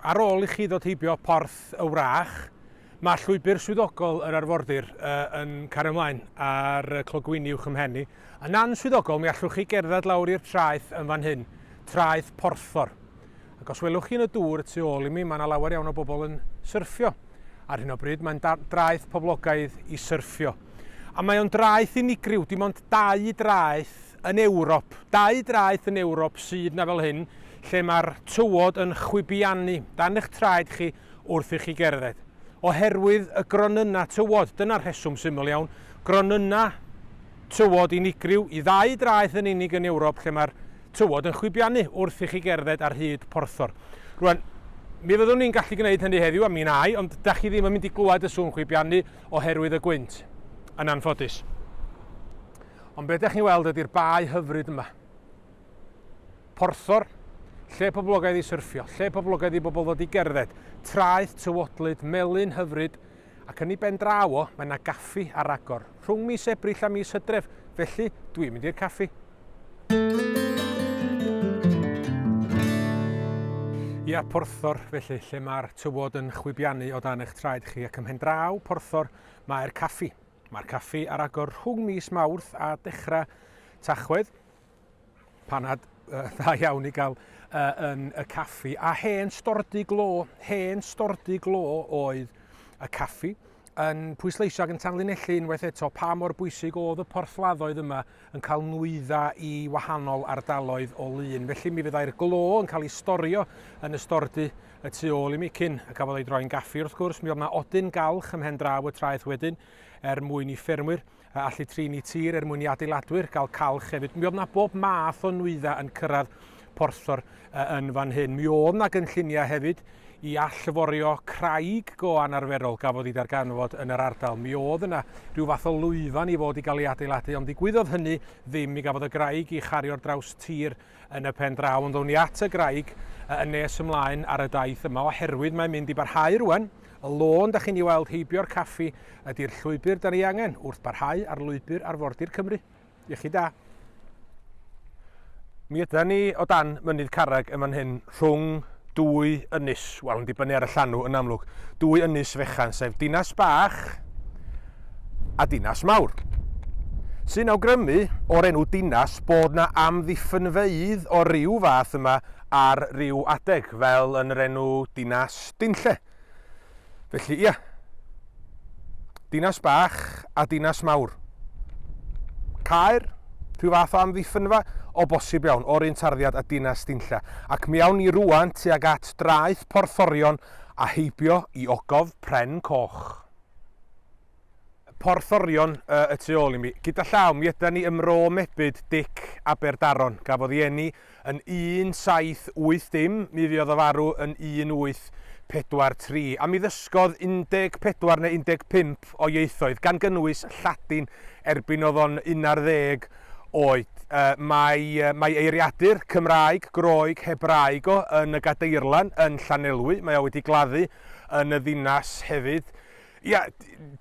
Ar ôl i chi ddod heibio Porth y Wrach, mae llwybr swyddogol yr arfordir yn cario ymlaen ar y clogwyni uwch ymhen ni. Yn answyddogol, mi allwch chi gerdded lawr i'r traeth yn fan hyn, traeth porthor. Ac os welwch chi yn y dŵr y tu ôl i mi, mae yna lawer iawn o bobl yn syrffio. Ar hyn o bryd, mae'n draeth poblogaidd i syrffio. A mae o'n draeth unigryw, dim ond dau draeth yn Ewrop, dau draeth yn Ewrop sydd na fel hyn, lle mae'r tywod yn chwibiannu dan eich traed chi wrth i chi gerdded. Oherwydd y gronynnau tywod, dyna'r rheswm syml iawn, gronynnau tywod unigryw i ddau draeth yn unig yn Ewrop lle mae'r tywod yn chwibiannu wrth i chi gerdded ar hyd porthor. Rwan, mi fyddwn ni'n gallu gwneud hynny heddiw, a mi nai, ond da chi ddim yn mynd i glywed y sŵn chwibiannu oherwydd y gwynt, yn anffodus. Ond beth da chi'n weld ydy'r bae hyfryd yma. Porthor, lle poblogaidd i syrffio, lle poblogaidd i bobl ddod i gerdded, traeth tywodlyd, melin hyfryd, ac yn ei ben draw o, mae 'na gaffi ar agor, rhwng mis Ebrill a mis Hydref, felly dwi'n mynd i'r caffi. Ia, Porthor, felly, lle mae'r tywod yn chwibiannu o dan eich traed chi, ac ym mhen draw Porthor mae'r caffi. Mae'r caffi ar agor rhwng mis Mawrth a dechrau Tachwedd, Panad uh, dda iawn i gael uh, yn y caffi. A hen stordy glo, hen stordy glo oedd y caffi yn pwysleisio ac yn tanlinellu unwaith eto pa mor bwysig oedd y porthladdoedd yma yn cael nwydda i wahanol ardaloedd o lun. Felly mi fyddai'r glo yn cael ei storio yn y stordy y tu ôl i mi cyn y cafodd ei droi'n gaffi. Wrth gwrs, mi oedd yna odyn galch ymhen draw y traeth wedyn er mwyn i ffermwyr a allu trin i tir er mwyn i adeiladwyr gael calch hefyd. Mi oedd na bob math o nwyddau yn cyrraedd porthor uh, yn fan hyn. Mi oedd na gynlluniau hefyd i allforio craig go anarferol gafodd ei darganfod yn yr ardal. Mi oedd yna rhyw fath o lwyfan i fod i gael ei adeiladu, ond ddigwyddodd hynny ddim. Mi gafodd y graig i chario'r draws tir Yn y pen draw ond wn i at y graig y yn nes ymlaen ar y daith yma oherwydd mae'n mynd i barhau rwan, y lôn da chi'n i weld heibio'r caffi ydi'r llwybr dan ei angen wrth barhau ar lwybr arfordir Cymru. Iechyd da. Mi ydan ni o dan mynydd carreg yn fan hyn rhwng dwy ynys, wel yn dibynnu ar y llanw yn amlwg, dwy ynys fechan sef Dinas Bach a Dinas Mawr. Sy'n awgrymu o'r enw Dinas bod na amddiffynfeydd o ryw fath yma ar ryw adeg, fel yn yr enw Dinas Dinlle. Felly, ia. Dinas bach a dinas mawr. Caer, rhyw fath o amddiffynfa, o bosib iawn, o'r un tarddiad a dinas Dinlla. Ac mi awn ni rwan tuag at draeth Porthorion a heibio i ogof Pren Coch. Porthorion y tu ôl i mi. Gyda llaw, mi ydan ni ym Mro Mebyd, Dic, Aberdaron. Gafodd ei eni yn 1780, mi fuodd o farw yn 1843, a mi ddysgodd 14 neu 15 o ieithoedd, gan gynnwys Lladin, erbyn oedd o'n unarddeg oed. Mae, mae eiriadur, Cymraeg, Groeg, Hebraeg o yn y Gadeirlan yn Llanelwy, mae o wedi gladdu yn y ddinas hefyd. Ia,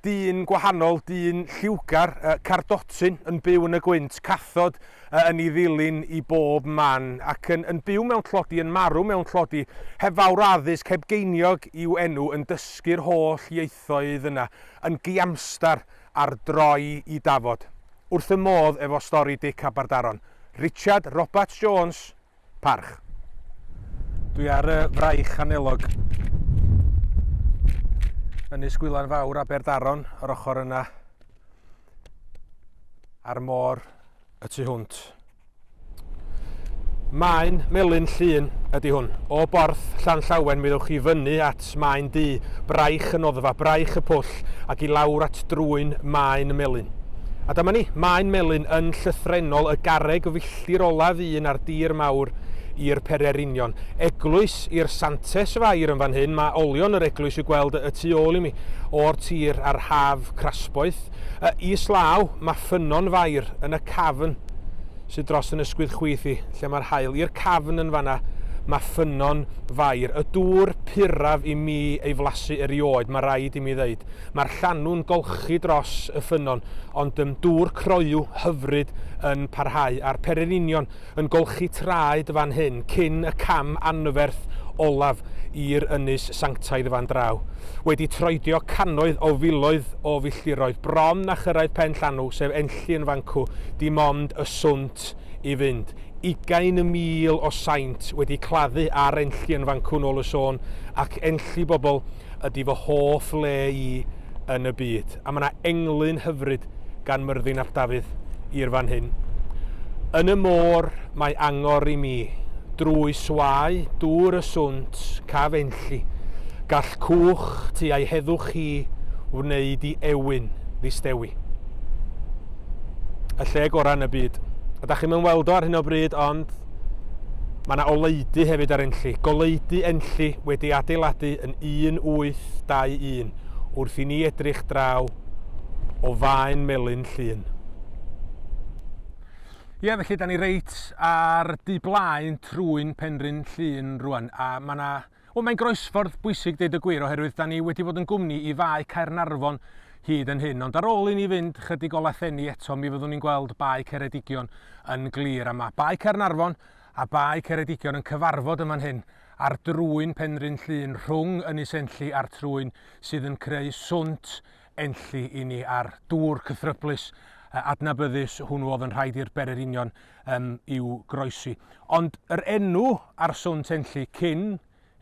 dyn gwahanol, dyn lliwgar, cardotyn, yn byw yn y gwynt, cathod yn ei ddilyn i bob man, ac yn, yn byw mewn tlodi, yn marw mewn tlodi, heb fawr addysg, heb geiniog i'w enw, yn dysgu'r holl ieithoedd yna, yn giamstar ar droi i dafod. Wrth fy modd efo stori Dic Aberdaron. Richard Roberts Jones. Parch. Dwi ar y fraich anelog yn Ynys Gwylan Fawr Aberdaron, yr ochr yna a'r môr y tu hwnt. Maen melyn llun ydy hwn. O borth Llan Llawen mi ddewch chi fyny at maen du, braich y noddfa, braich y pwll ac i lawr at drwyn maen melyn. A dyma ni, maen melyn yn llythrenol y garreg Celltir olaf un ar dir mawr i'r pererinion. Eglwys i'r Santes Fair yn fan hyn, mae olion yr eglwys i'w gweld y tu ôl i mi, o'r tir a'r haf crasboeth. Y is law, mae ffynnon fair yn y cafn sydd dros yn ysgwydd chwith i, lle mae'r haul. I'r cafn yn fanna, mae ffynnon fair. Y dŵr puraf i mi ei flasu erioed, mae rhaid i mi ddeud. Mae'r llanw'n golchi dros y ffynnon, ond ym dŵr croyw hyfryd yn parhau, a'r pererinion yn golchi traed fan hyn cyn y cam anferth olaf i'r ynys sanctaidd fan draw. Wedi troedio cannoedd o filoedd o filltiroedd bron a chyrraedd pen llanw, sef Enlli yn fancw, dim ond y swnt i fynd. Ugain y mil o saint wedi claddu ar Enlli yn fancw nôl y sôn, ac Enlli bobl, ydi fy hoff le i yn y byd, a mae yna englyn hyfryd gan Myrddin ap Dafydd i'r fan hyn. Yn y môr mae angor i mi, drwy swae dŵr y swnt caf enlli, gall cwch tu a'i heddwch hi wneud i ewyn ddistewi. Y lle gorau yn y byd. Ydach chi'm yn weld o ar hyn o bryd, ond Mae yna oleudy hefyd ar Enlli, goleudy Enlli wedi ei adeiladu yn 1821 wrth i ni edrych draw o faen Melin Llŷn. Ie, felly, da ni reit ar du blaen trwy'n Penrhyn Llŷn rwan, a mae yna Wel mae'n groesffordd bwysig deud y gwir oherwydd da ni wedi bod yn gwmni i Fae Caernarfon hyd yn hyn ond ar ôl i ni fynd chydig o lathenni eto mi fyddwn ni'n gweld Bae Ceredigion yn glir a mae Bae Caernarfon a Bae Ceredigion yn cyfarfod yn fan hyn ar drwyn Penrhyn Llŷn rhwng Ynys Enlli a'r trwyn sydd yn creu swnt enlli i ni a'r dŵr cythryblus, adnabyddus hwnnw oedd yn rhaid i'r bererinion um, i'w groesi. Ond yr enw ar swnt enlli cyn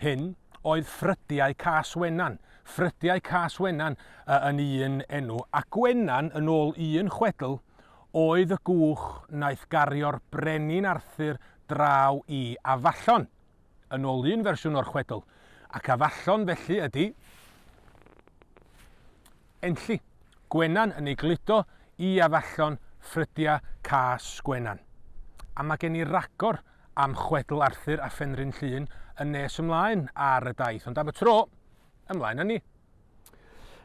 hyn oedd ffrydiau cas Wenan. Ffrydiau cas Wenan uh, yn un enw, a Gwenan yn ôl un chwedl oedd y gwch wnaeth gario'r brenin Arthur draw i Afallon. yn ôl un fersiwn o'r chwedl, ac a fallon felly ydy Enlli, Gwenan yn ei gludo i a fallon ffrydia cas Gwenan. A mae gen i ragor am chwedl Arthur a Phenrhyn Llŷn yn nes ymlaen ar y daith, ond am y tro, ymlaen â ni.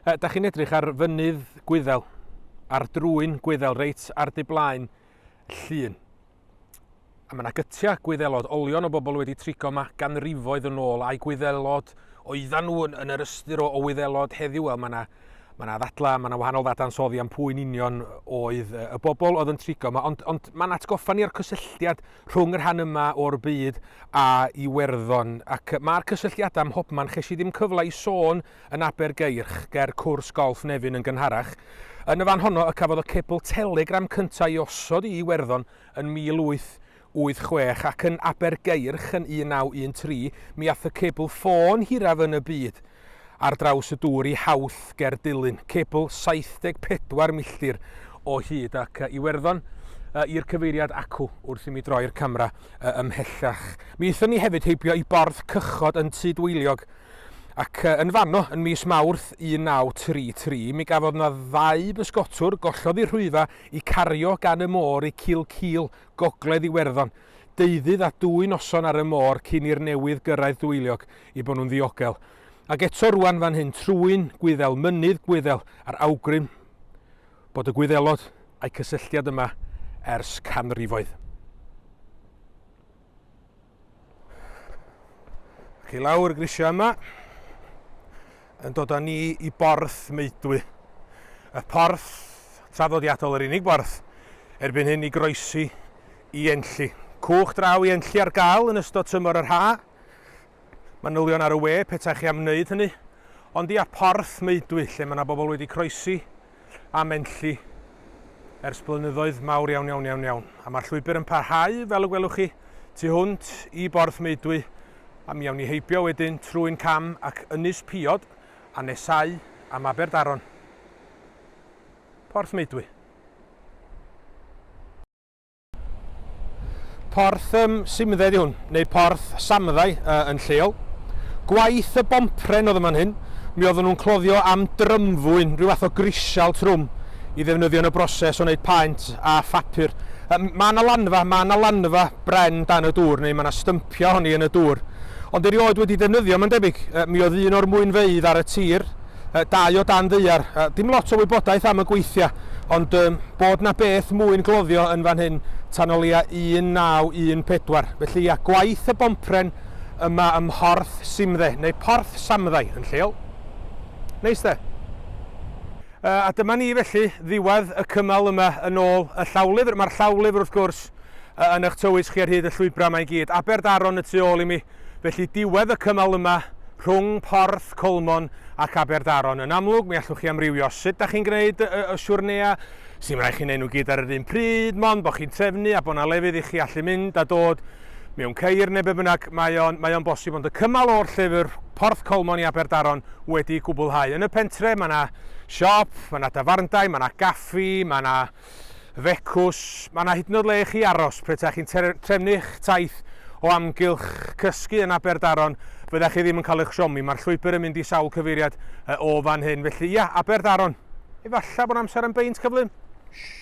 E, da chi'n edrych ar fynydd Gwyddel, ar drwyn Gwyddel, reit ar dy blaen Llŷn. A mae yna gytiau, gwyddelod, olion o bobl wedi trigo yma ganrifoedd yn ôl, a'i gwyddelod oeddan nhw yn, yn yr ystyr o, o wyddelod heddiw, wel mae yna mae yna ddadlau, mae yna wahanol ddadansoddi am pwy'n union oedd y bobl oedd yn trigo yma, ond, ond mae'n atgoffa ni o'r cysylltiad rhwng yr rhan yma o'r byd a Iwerddon, ac mae'r cysylltiadau ym mhobman, ches i ddim cyfle i sôn yn Abergeirch, ger cwrs golff Nefyn yn gynharach. Yn y fan honno y cafodd y cebl telegram cyntaf ei osod i Iwerddon yn 1886 ac yn Abergeirch yn 1913 mi ath y cebl ffôn hiraf yn y byd ar draws y dŵr i Howth ger Dulyn, cebl 74 milltir o hyd ac yy Iwerddon yy i'r cyfeiriad acw wrth i mi droi'r camera yy ymhellach. Mi aethon ni hefyd heibio i Borth Cychod yn Tudweiliog Ac yn fanno, yn mis Mawrth 1933, mi gafodd na ddau bysgotwr gollodd i rhwyfa i cario gan y môr i Cil Cil, gogledd Iwerddon, deuddydd a dwy noson ar y môr cyn i'r newydd gyrraedd Dwyliog i bo nhw'n ddiogel. Ac eto rwan fan hyn trwyn Gwyddel mynydd Gwyddel a'r awgrym bod y Gwyddelod a'i cysylltiad yma ers canrifoedd. Ac i lawr y grisiau yma, yn dod â ni i borth Meudwy. Y porth traddodiadol, yr unig borth erbyn hyn i groesi i Enlli. Cwch draw i Enlli ar gael yn ystod tymor yr ha. Manylion ar y we, petaech chi am wneud hynny. Ond ia, porth Meudwy, lle mae yna bobl wedi croesi am Enlli ers blynyddoedd mawr iawn iawn iawn iawn, a mae'r llwybr yn parhau, fel y gwelwch chi, tu hwnt i Borth Meudwy, a mi awn ni heibio wedyn trwy'n cam ac Ynys Piod, a nesau am Aberdaron. Porth Meudwy. Porth um, Simdde ydi hwn, neu Porth Samddai uh, yn lleol. Gwaith y bompren oedd yma'n hyn, mi oedden nhw'n cloddio am drymfwyn, rhyw fath o grisial trwm, i ddefnyddio yn y broses o wneud paent a phapur. Mae yna lanfa, mae yna lanfa bren dan y dŵr, neu mae yna stympio honi yn y dŵr. Ond erioed wedi defnyddio, mae'n debyg, mi oedd un o'r mwynfeidd ar y tir, Yy dau o dan ddaear. Yy dim lot o wybodaeth am y gweithia, ond yy bod 'na beth mwy'n gloddio yn fan hyn tan o leia 1914. Felly ia, gwaith y bompren yma ym Mhorth Simdde, neu Porth Samddai yn lleol. Neis de? Yy a dyma ni felly, ddiwedd y cymal yma yn ôl y llawlyfr. Mae'r llawlyfr wrth gwrs yy yn 'ych tywys chi ar hyd y llwybra 'ma i gyd. Aberdaron y tu ôl i mi, Felly, diwedd y cymal yma rhwng Porth Colmon ac Aberdaron. Yn amlwg, mi allwch chi amrywio sut da chi'n gwneud y, y siwrnea. Sy'n rhaid chi'n neud nhw gyd ar yr un pryd, mond bod chi'n trefnu a bod yna lefydd i chi allu mynd a dod mewn ceir neu be bynnag, mae o'n, mae o'n bosib. Ond y cymal o'r llyfr Porth Colmon i Aberdaron wedi gwblhau. Yn y pentre, mae yna siop, mae yna dafarndai, mae yna gaffi, mae yna fecws, mae yna hyd yn oed le i chi aros pe taech chi'n trefnu'ch taith o amgylch cysgu yn Aberdaron, fyddech chi ddim yn cael eich siomi, mae'r llwybr yn mynd i sawl cyfeiriad o fan hyn, felly ia, Aberdaron, efallai bod amser am beint cyflym? Shh.